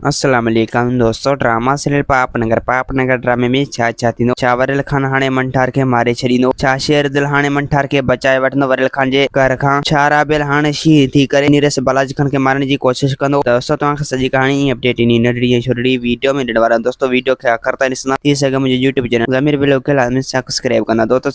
السلام عليڪم دوستو ڊراما سيريل پاپ نگر پاپ نگر ڊرامي ۾ ڇا ڇا ٿيندو ڇا وريل خان هاڻي منٺار کي ماري ڇڏيندو ڇا شير دل هاڻي منٺار کي بچائي وٺندو وريل خان جي قهر کان ڇا رابيل هاڻي شينهن ٿي ڪري نيرس بلاج خان کي مارڻ جي ڪوشش ڪندو ته دوستو توهان کي سڄي ڪهاڻي ۽ اپڊيٽ انهي ننڍڙي ۽ ڇوٽڙي ويڊيو ۾ ڏيڻ وارا آهيون دوستو ويڊيو کي آخر تائين ڏسندا ٿي سگهي منهنجي يوٽيوب چينل ضمير بلوڪ کي لازمي سبسڪرائب ڪندا دوستو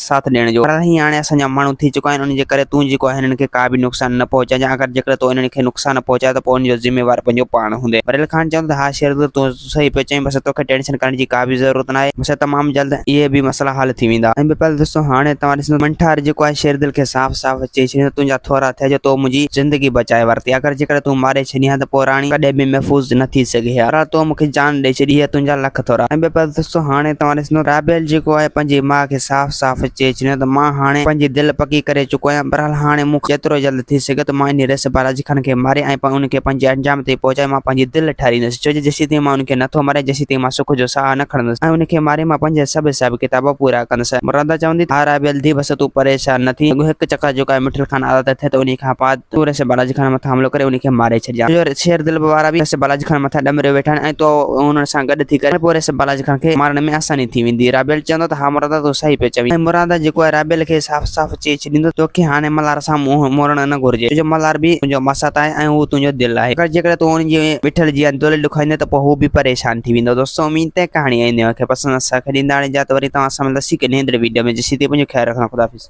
ساٿ ڏيڻ جو. پر هي هاڻي اسان جا ماڻهو ٿي چڪا آهن، انهن جي ڪري تون جيڪو آهين هنن کي ڪا به نقصان نه پهچائجان، اگر جيڪڏهن تو انهن کي نقصان پهچايو ته پوء ان جو ذميوار پنهنجو پاڻ هوندين. وريل خان چوندو ته ها شيردل تون صحيح پيو چئين، بس توکي ٽينشن ڪرڻ جي ڪا به ضرورت ناهي، بس تمام جلد اهي به مسئلا حل ٿي ويندا. ۽ ٻپل دوستو هاڻي توهان ڏسندو ته منٺار جيڪو آهي شيردل کي صاف صاف چئي ڇڏيندو ته تنهنجا ٿورا ٿيا جو تو منهنجي زندگي بچائي ورتي، اگر جيڪڏهن تون ماري ڇڏين ها ته پوء راڻي ڪڏهن به محفوظ نه ٿي سگهي ها، بهرحال تو مونکي جان ڏئي ڇڏي، هي تنهنجا لک ٿورا. ۽ ٻپل دوستو هاڻي توهان ڏسندو. سنڌو رابيل جيڪو آهي پنهنجي ماء کي صاف صاف چئي ڇڏيو ته مان هاڻي پنهنجي دل پڪي ڪري چڪو آهيان بهرحال هاڻي مون کان جيترو جلد ٿي سگهي ٿو مان انهي ريس بالاجي خان کي ماري ۽ ان کي پنهنجي انجام تائين پهچائي مان پنهنجي دل ٺاريندس ڇو جو جيسين تائين مان ان کي نه ٿو ماريان جيسين تائين مان سک جو ساهه نه کڻندس ۽ ان کي ماري مان پنهنجا سڀ حساب ڪتاب پورا ڪندس. مرادا چوندي ته ها رابيل ڌيء بس تون پريشان نه ٿي اڳو هڪ چڪر جيڪو آهي مٺل خان آزاد ٿئي ته انهي کان پاد تون رسي بالاجي خان مٿان حملو ڪري انهي کي ماري ڇڏجان تنهنجو شير دلب وارا به رسي بالاجي خان مٿان ڏمريو ويٺا آهن ۽ تون انهن سان گڏ ٿي ڪرين ته پوء رسي بالاجي خان کي مارڻ ۾ آساني ٿي ويندي رابيل چوندو ته ها مرادا تون صحيح پيو چوين ۽ مرادا جيڪو آهي رابيل کي صاف صاف چئي ڇڏيندو توکي هاڻي ملهار سان منهن موڙڻ نه گهرجي ڇو جو ملهار به تنهنجو ماسات آهي ۽ هو تنهنجو دل آهي اگر جيڪڏهن تون ان جي وٺل جي اندولي ڏکوائيندين ته پوء هو به پريشان ٿي ويندو دوستو اميد ته ڪهاڻي ۽ نيو کي پسند آهي ساکي ڏيندڙ جا ته وري توهان سان ملنداسين هڪ نيندڙي ويڊيو ۾ جيسين تائين پنهنجو خيال رکنا خداحافظ.